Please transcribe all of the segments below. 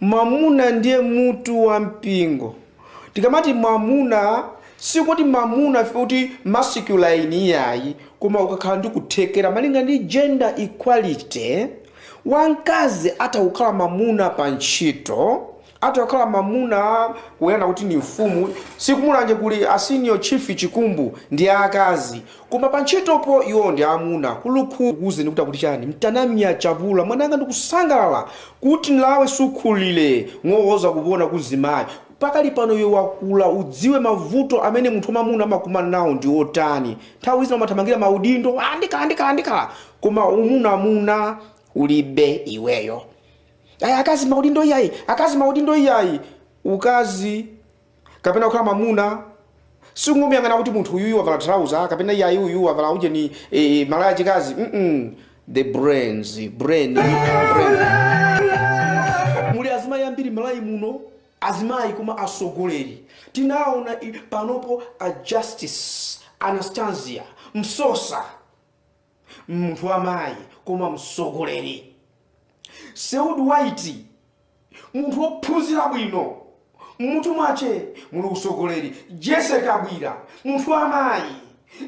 Mwamuna ndiye mutu wa mpingo. Tikamati mwamuna sikuti mwamuna ifeyo kuti masculine iyayi, koma ukakhala ndi kuthekera malinga ndi gender equality, wamkazi atha kukhala mwamuna pa ntchito, atha kukhala mwamuna kunena kuti ndi mfumu, si ku Mulanje kuli a senior chief Chikumbu ndi aakazi, Koma pa ntchitopo iwo ndi amuna kulukhu kukuuza ndi kuti akuti chani mtanamia chapula mwananga ndikusangalala kuti nlawe sukhulile ng'owoza kupona kuzimayi pakali pano iwe wakula udziwe mavuto amene munthu wamamuna amakumana nawo ndi otani nthawi zina umathamangira maudindo ah ndikhala ndikhala ndikhala koma umunamuna ulibe iweyo ayi akazi maudindo iyayi akazi maudindo iyayi ukazi kapena kukhala mwamuna sikungomuyang'ana kuti munthu uyuyu wavala thalauza kapena iyayi uyu wavala ujeni e, e, malaya achikazi mm the brain brain brain muli azimayi ambiri Malawi muno azimayi koma asogoleri tinaona i- panopo a Justice Anastasia Msosa munthu wa mayi koma mtsogoleri Seodi White munthu wophunzira bwino mmutu mwache muli utsogoleri Jessie Kabwila munthu wa mayi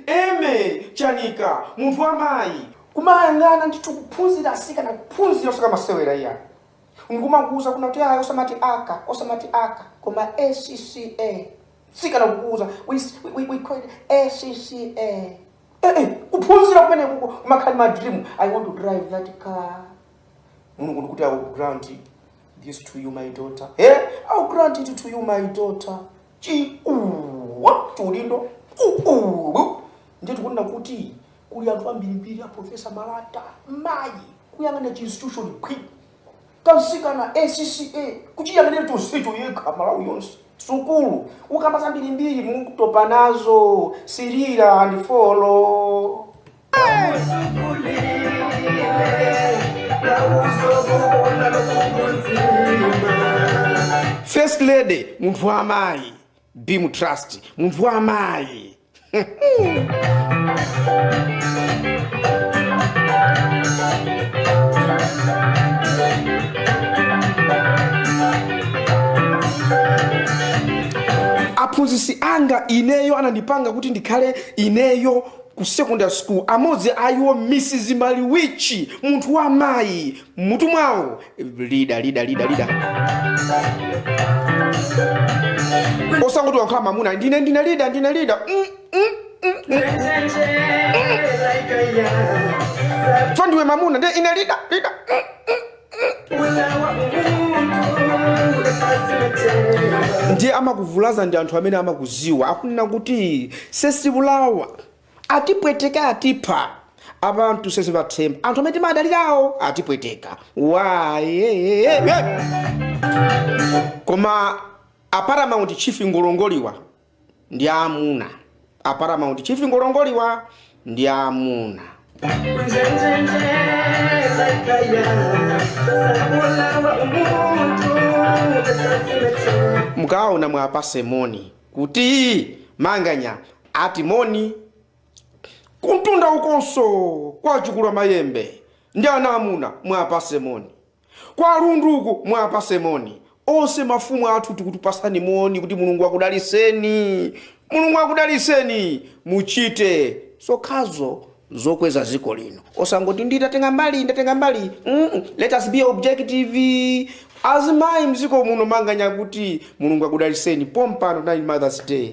Emmie Chanika munthu wa mayi kumayang'ana ndithu kuphunzira asikana kuphunzira osaka masewera iyayi ndikumakuuza kunena kuti ayi osamati aka osamati aka koma ACCA sikana kukuuza we, we, we, we call it ACCA Eh, eh, kuphunzira kumene kuko kumakhala ndi ma dream i want to drive that car mulungu ndikuti i will grant this to you my daughter eh i will grant it to you my daughter chiuwa chiulindo uulu ndiye tikunena kuti kuli anthu ambirimbiri a Professor Malata mayi kuyang'ana chi institution kwi kamtsikana ACCA kuchiyang'anira chonsecho yekha Malawi yonse sukulu ukamba zambirimbiri mukutopa nazo sirira and follow first lady munthu wa mayi Beam Trust munthu wa mayi aphunzitsi anga ineyo anandipanga kuti ndikhale ineyo ku secondary school amodzi a iwo Mrs Maliwichi munthu wa mayi mutu mwawo leader leader leader leader osangoti wankhala mamuna ndine ndine leader ndine leader Mm, mm, mm, mm. so ndiwe mamuna ndi ine leader leader ndiye amakuvulaza ndi anthu amene amakuziwa akunena kuti sesibulawa atipweteka atipha abantu sesibathemba anthu amene timadalirawo atipweteka why koma aparamount chief ngolongoliwa ndi amuna aparamount chief ngolongoliwa ndi amuna mukaona mwapase moni kuti manganya Ati moni kumtunda ukonso kwa Chikulamayembe ndi ana amuna mwapase moni kwa Lundu ku mwapase moni onse mafumu athu tikukupasani moni kuti mulungu akudaliseni mulungu akudaliseni muchite zokhazo zokweza ziko lino osangoti ndatenga mbali ndatenga mbali mm, let us be objective azimayi mziko muno manganya akuti mulungu akudaliseni pompano ndi mothers day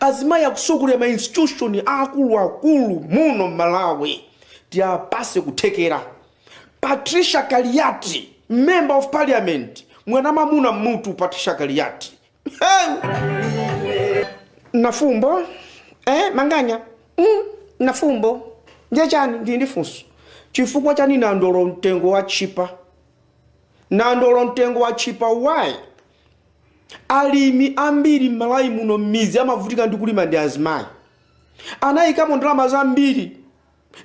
azimayi akusogolera ma institution aakulu akulu muno mmalawi tiapase kuthekera patricia kaliati member of parliament mwana mamuna mmutu patricia kaliati hey! nafumbo eh, manganya mm, nafumbo ndiye chani ndili ndi funso chifukwa chani nandolo mtengo watchipa nandolo mtengo watchipa why Alimi ambiri m'Malawi muno m'midzi amavutika ndi kulima ndi azimayi. Anayikamo ndalama zambiri,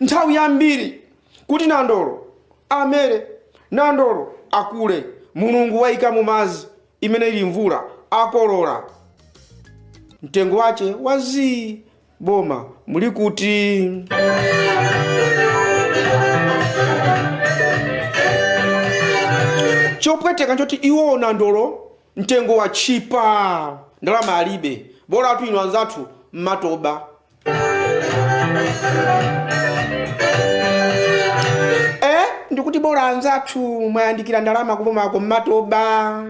nthawi yambiri kuti nandolo amere, nandolo akule. Mulungu wayikamo madzi, imene ili mvula, akolola. Mtengo wache wa zii. boma muli kuti? chopweteka nchoti iwo nandolo mtengo watchipa ndalama alibe bolatu inu anzathu mumaba eh ndikuti bola anzathu mwayandikira ndalama kubomako mumaba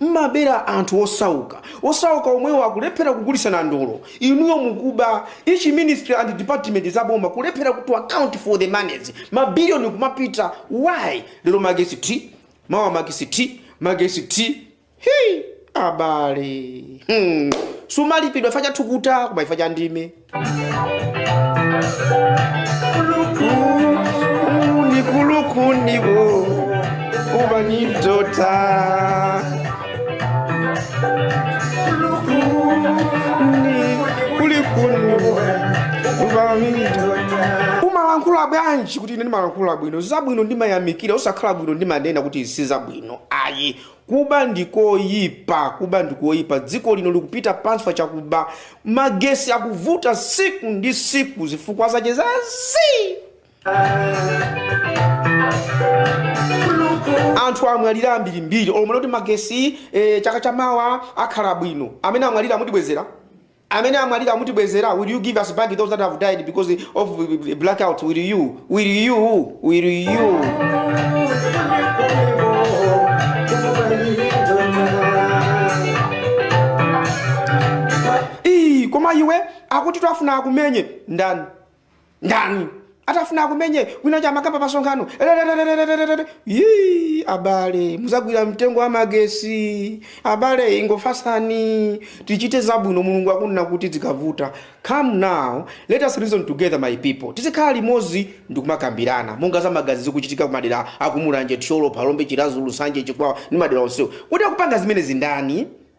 Mmabera anthu osauka. Osauka omwewo akulephera kugulisa nandolo. Inuyo mukuba. Each ministry and department za boma kulephera to account for the moneys. Ma billion kumapita. Why? Lero magesi thi, mawa magesi thi, magesi thi. Hii! Abale. Hmm. Sumalipidwa chifukwa cha thukuta koma chifukwa cha ndime. Kulikundibowa, kulikundibowa, kuba ndi kudotha. Kulikundibowa, kulikundibowa, kuba ndi kudotha. umalankhula bwanji kuti ine ndimalankhula bwino zabwino ndimayamikira osakhala bwino ndimanena kuti si zabwino ayi Kuba ndi koyipa, kuba ndi koyipa. Dziko lino likupita pansi chakuba. Magesi akuvuta tsiku ndi tsiku zifukwa zache za zii! Anthu amwalira ambirimbiri olo munati magesi eh, chaka chamawa akhala bwino. Amene amwalira mutibwezera? Amene amwalira mutibwezera? Will you give us back those that have died because of blackouts? Will you? Will you? Will you? Ii, koma iwe akuti atafuna akumenye ndani? ndani atafuna akumenye wina cha makamba pamsonkhano Ererererererere. Yii, abale muzagwira mtengo wa magesi abale ingofasani tichite zabwino mulungu akunena kuti zikavuta come now let us reason together my people tizikhala limodzi ndikumakambirana monga za magazi zikuchitika kumadera akumulanje thyolo phalombe chirazulu nsanje chikwawa ndi madera onsewo kuti akupanga zimenezi ndani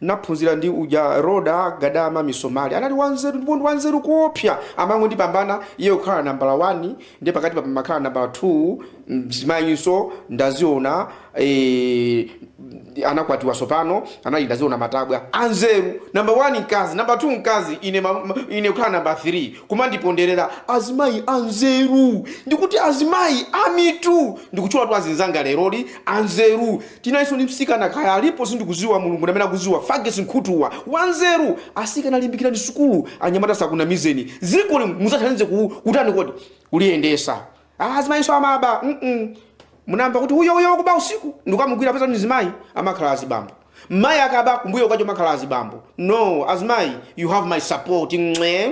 Naphunzira ndi uja Rhoda Gadama Misomali. Anali wanzeru ndipo ndi wanzeru koopsya. Amangondipambana iye kukhala nambala wani ndiye pakatipa pamakhala nambala thuu. Mzimayinso ndaziona eeh anakwatiwa tsopano. Anali ndaziona matabwa. Anzeru. Namba wani mkazi, namba thuu mkazi, ine ma ma ine kukhala nambala thirii. Kumandiponderera azimayi anzeru. Ndikuti azimayi amitu! Ndikutchulatu azinzanga lerolino anzeru. Tinalinso ndi msikana kaya alipo sindikuziwa mulungu ndamene akuziwa fages nkhutuwa wanzeru asikana limbikirani sukulu anyamata asakunamizeni dzikoli muzathandize kutani kodi kuliyendesa ah azimayinso amaba mm munamva kuti uyo uyo wakuba usiku ndikukamugwira peza ndi mzimayi amakhala azibambo mayi akaba kumbuyo kwacheko makhala azibambo no azimayi you have my support Mwe.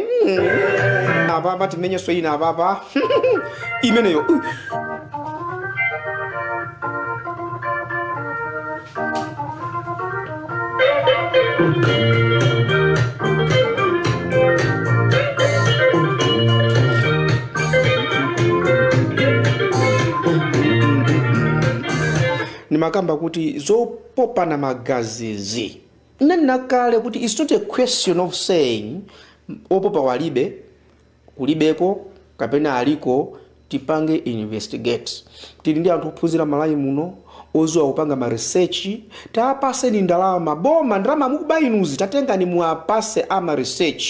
apapa timenyenso ina apapa imeneyo Uh. ndimakamba kuti zopopana magazizi Nnanena kale kuti its not a question of saying opopa walibe, kulibeko kapena aliko tipange investigate tili ndi anthu ophunzira Malawi muno oziwa kupanga ma research tapaseni ndalama boma ndalama mukuba inuzi tatengani muwapase ama research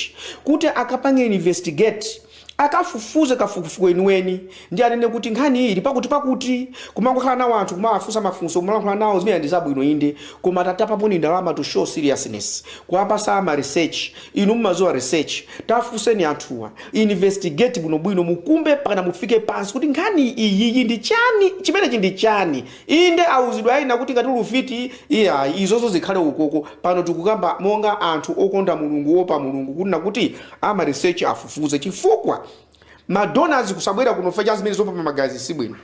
kuti akapange investigate Akafufuze kafukufuku weniweni ndi anene kuti nkhani iyi ili pakutipakuti. Kumangokhala nawo anthu, kumawafunsa mafunso, kumalankhula nawo zimenezi ndi zabwino inde, koma tatapaponi ndalama to show seriousness, kuwapasa ama research, inu mumadziwa research, tafunseni anthuwa, investigate bwinobwino, mukumbe mpakana mufike pansi kuti nkhani iyiyi ndi chani, chimenechi ndi chani. Inde, auzidwe ena kuti ngati uli ufiti, iyayi, izozo zikhale ukoko. Pano tikukamba monga anthu okonda Mulungu, oopa Mulungu, kuti nakuti ama research afufuze chifukwa ma donors kusabwera kuno fa cha zimene zopopa magazi sibwino.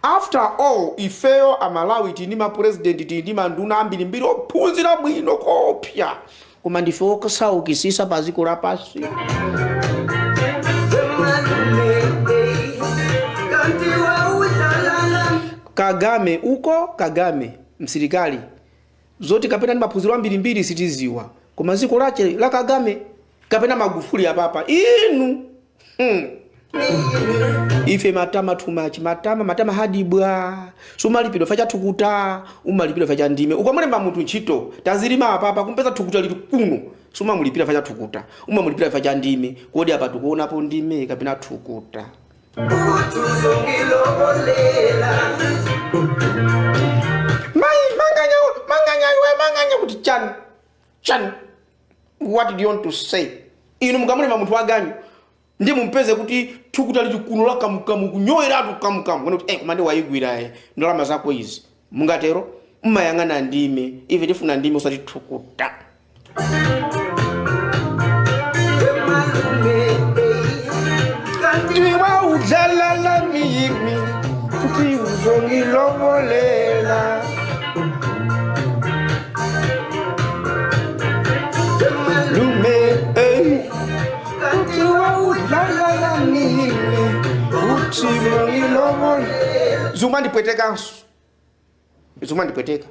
After all, ifeyo a Malawi tili ndi ma president, tili ndi ma nduna ambirimbiri ophunzira bwino koopsya. koma ndife okusaukisisa pa ziko lapansi kagame uko kagame msilikali zoti kapena ndi maphunziro ambirimbiri sitiziwa koma ziko lache la kagame kapena magufuli apapa inu ife matama too much matama matama hadibwa sumalipidwa fa cha thukuta umalipidwa fa cha ndime ukamulemba munthu ntchito tazilima apapa kumpeza thukuta lili kuno sumamulipira fa cha thukuta umamulipira fa cha ndime kodi apa tukuonapo ndime kapena thukuta mai manganya manganya iwe manganya kuti chani chani what did you want to say inu mukamulemba munthu waganyu ndi mumpeze kuti thukuta lili kuno la kamukamu kunyoweratu kamukamu Kuona kuti, eh, koma nde wayigwira eh, ndalama zako izi mungatero mmayang'ana ndime ife tifuna ndime usati thukuta iwa udzalala miyimi kuti uzongilovolela zumandipwetekanso zumandipweteka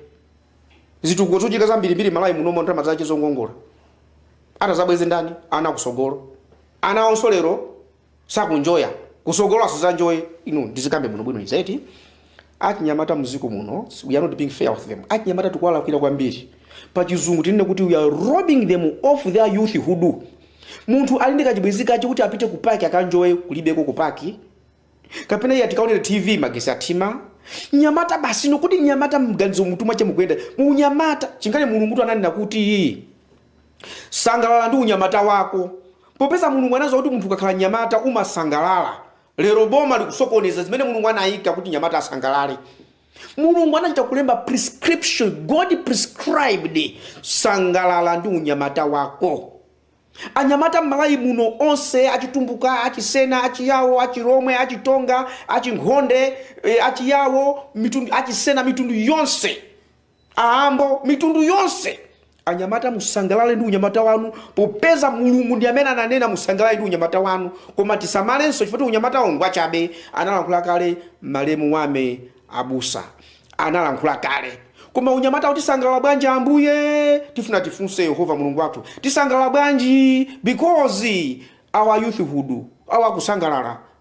zitukuko zochitika zambirimbiri malawi muno ndalama zache zongongola atazabweze ndani ana kusogolo ana onso lero sakunjoya kusogolo asizanjoye inu ndizikambe muno bwino izi eti achinyamata muziko muno we are not being fair with them achinyamata tikuwalakwira kwambiri pa chizungu tinene kuti we are robbing them of their youthhood munthu ali ndi kachibwenzi kache kuti apite ku paki akanjoye kulibeko ku paki kapena iye akaonere tv magesi athima nyamata basi nokuti nyamata maganizo m'mutu mwache mukuyenda munyamata chingale mulungu tu ananena kuti Sangalala ndi unyamata wako popeza Mulungu anaziwa kuti munthu ukakhala mnyamata umasangalala. Lero boma likusokoneza zimene Mulungu anaika kuti nyamata asangalale. Mulungu anachita kulemba prescription, God prescribed sangalala ndi unyamata wako. Anyamata m'Malawi muno onse achitumbuka, achisena, achiyawo, achilomwe, achitonga, achinkhonde, eh, achiyawo, mitundu, achisena mitundu yonse aambo mitundu yonse anyamata musangalale ndi unyamata wanu popeza mulungu ndi amene ananena musangalale ndi unyamata wanu koma tisamalenso chifukwa unyamata wanu ngwachabe analankhula kale malemu wame abusa analankhula kale koma unyamata kuti tisangalala bwanji ambuye tifuna tifunse yehova mulungu wathu tisangalala bwanji because our youthhood awa kusangalala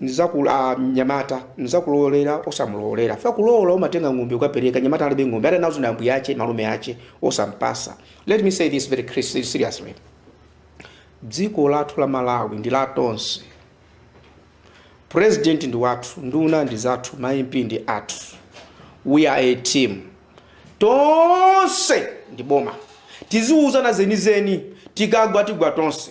Mzakulu, a, mnyamata, nizakulowolera, osamulowolela, chifukwa kulowola umatenga ng'ombe ukapereka, mnyamata alibe ng'ombe, ali nazo ni ambuye ache, malume ache, osampasa. Let me say this very cri- seriously. Dziko lathu la Malawi ndi la tonse. President ndi wathu, nduna ndi zathu, ma MP ndi athu. We are a team. Tonse ndi boma. Tiziuzana zenizeni, tikagwa tigwa tonse.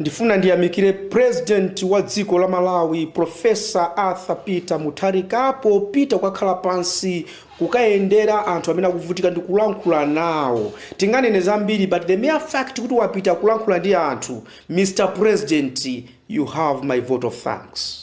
Ndifuna ndiyamikire President wa dziko la Malawi Professor Arthur Peter Mutharika popita kukakhala pansi kukayendera anthu amene akuvutika ndi kulankhula nawo. Tinganene zambiri but the mere fact kuti wapita kulankhula ndi anthu, Mr President, you have my vote of thanks.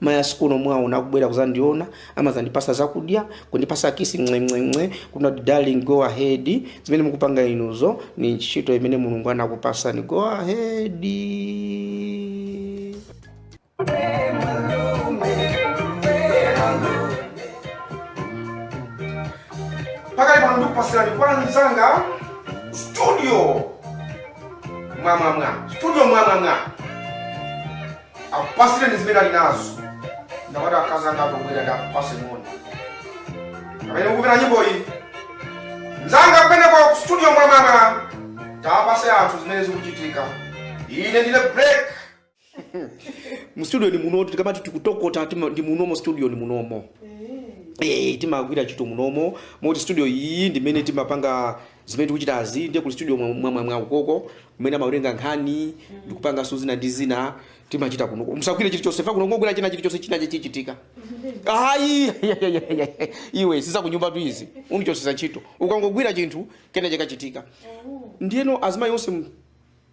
Mayi ake a Sikono mwaona akubwera kuzandiona, amazandipasa zakudya, kundipasa kiss mng'we mng'we mng'we, kunena kuti darling go ahead, zimene mukupanga inuzo ni ntchito imene Mulungu anakupasani go ahead. pakali pano ndikupasireni kwa mzanga studio mwamwamwa studio mwamwamwa akupatsireni zimene ali nazo ndakati akazi anga akubwera ndiwapase moni pamene ikupita nyimbo iyi mzanga kumene kwa studio mwamama tapase anthu zimene zikuchitika ine ndine break mu studio ni muno tikamati tikutokota tima- ndi munomo studio ni munomo eh timagwira ntchito munomo moti studio iyi ndimene timapanga Zimene tikuchitazi ndiye kuli studio mwamwamwa ukoko kumene amawerenga nkhani ndikupanganso zina ndi zina timachita kuno musagwire chilichonse fa kuno kungogwira china chilichonse china chichitika ayi iwe si zakunyumbatu izi undichotsetsa ntchito ukangogwira chinthu kena chikachitika ndiyeno azimayi onse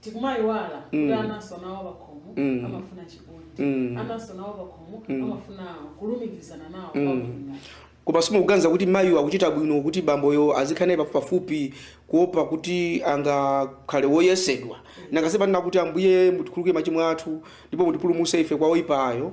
tikumayiwala kuti Mm. ananso nawo pakhomo Mm. amafuna chikondi Mm. ananso nawo pakhomo amafuna kulumikizana nawo Mm. kwabwino koma simukuganiza kuti mayiwo akuchita bwino kuti bamboyo azikhala naye pafupipafupi kuopa kuti angakhale woyesedwa nanga si panena kuti ambuye mutikhululukire machimo athu ndipo mutipulumutse ife kwa oyipayo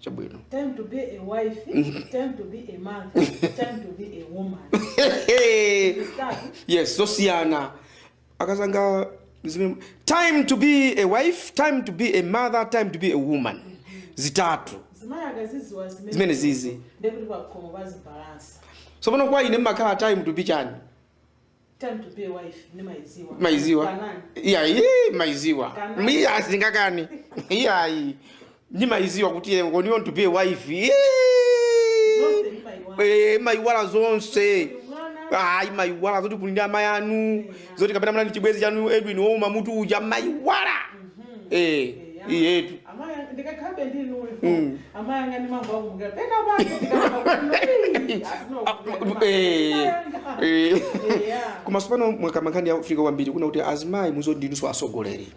chabwino Time to be a wife, time to be a mother, time to be a woman. Zitatu. yes zosiyana akazanga zimene time to be a wife time to be a mother time to be a woman zitatu Azimayi akaziziwa zimene. Zimene zizi. Ndekuti pakhomo pazibalansa. tsopano kwa ine mmakhala time to be chani Time to be a wife, nimaiziwa. maiziwa Kanani. iyayi maiziwa Kana. mi asingakani iyayi ndimaiziwa kuti eh, when you want to be a wife eh, Zonse nimaiwa. eh, maiwala zonse Mwana. ayi maiwala zoti kuli ndi amayi anu zoti kapena mwana ndi chibwenzi chanu edwin wouma mutu uja maiwala eh iyetu Amaya- ndikakhabe ndi inuyo Mm. amaya angani mambo akumukira pena pake Eh, eh. koma tsopano mwakamba nkhani yofunika kwambiri kunena kuti azimayi muzoti ndinunso asogoleri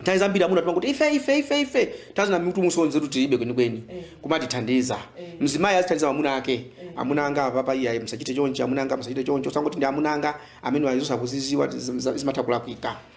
nthawi zambiri amuna timangoti ife ife ife ife nthawi zina mitu musonze kuti tilibe kwenikweni Eh. kumatithandiza Eh. mzimayi azithandiza amuna ake amuna anga apapa iyayi musachite chonchi amuna anga musachite choncho osangoti ndi amuna anga amene ayizo sakuziziwa zimatha kulakwika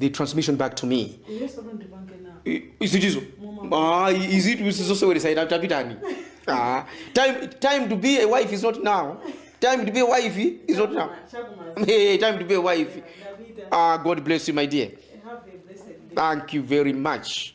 the transmission back to me izichizo ah izitu isizoseweresa ita tapitani ah time time to be a wife is not now time to be a wife is not now hey, time to be a wife ah god bless you my dear thank you very much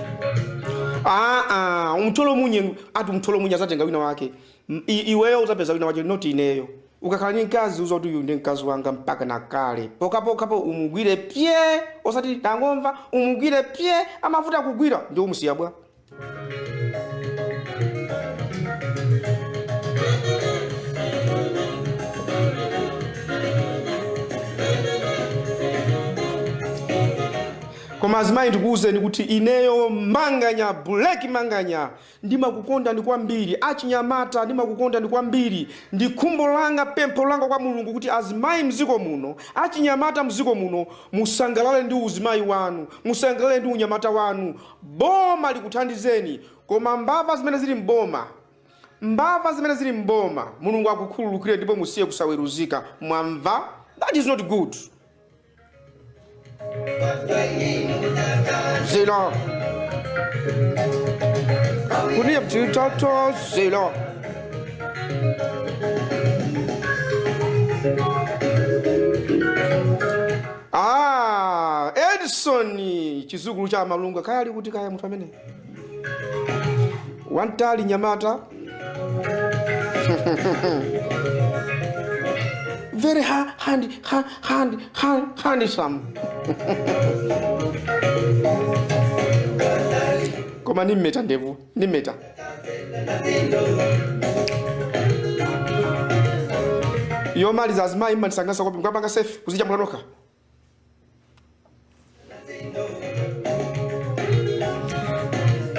Ah, ah, umtolo munye ati umtolo munye azatenga wina wake M- i- iweyo uzapeza wina wake not ineyo ukakhala ni mkazi uziti uyu ndi mkazi wanga mpaka na kale pokapokapo umugwire pye osati ndangomva umugwire pye amavuta kugwira nde umusiya bwa Koma azimayi ndikuuzeni kuti ineyo manganya black manganya ndimakukondani kwambiri achinyamata ndimakukondani kwambiri ndi khumbo langa pempho langa kwa mulungu kuti azimayi mziko muno achinyamata mziko muno musangalale ndi uzimayi wanu musangalale ndi unyamata wanu boma likuthandizeni koma mbava zimene zili mboma mbava zimene zili mboma mulungu akukhululukire ndipo musiye kusaweruzika mwamva that is not good Zelo. Kuniye mtitato zelo. Ah, Edison chizukulu cha malunga kaya ali kuti kaya m'mene. wantali nyamata very ha- hand, ha- hand, hand, handsome koma nimmeta ndevu nimmeta yomaliza azimayi mmandisanganisa kwambiri mkwapanga sefi kuzichambula nokha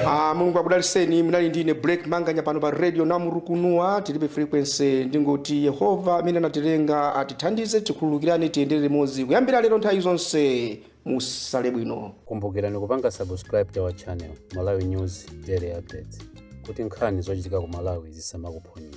Ah, mulungu akudaliseni munali ndine Black Manganya pano pa radio namurukunua tilibe frequency ndingoti yehova amene anatilenga atithandize tikhululukirane tiyendere limodzi kuyambira lero nthawi zonse musale bwino kumbukirani kupanga subscribe to our channel malawi news daily updates kuti nkhani zochitika ku malawi zisamakuphonyeni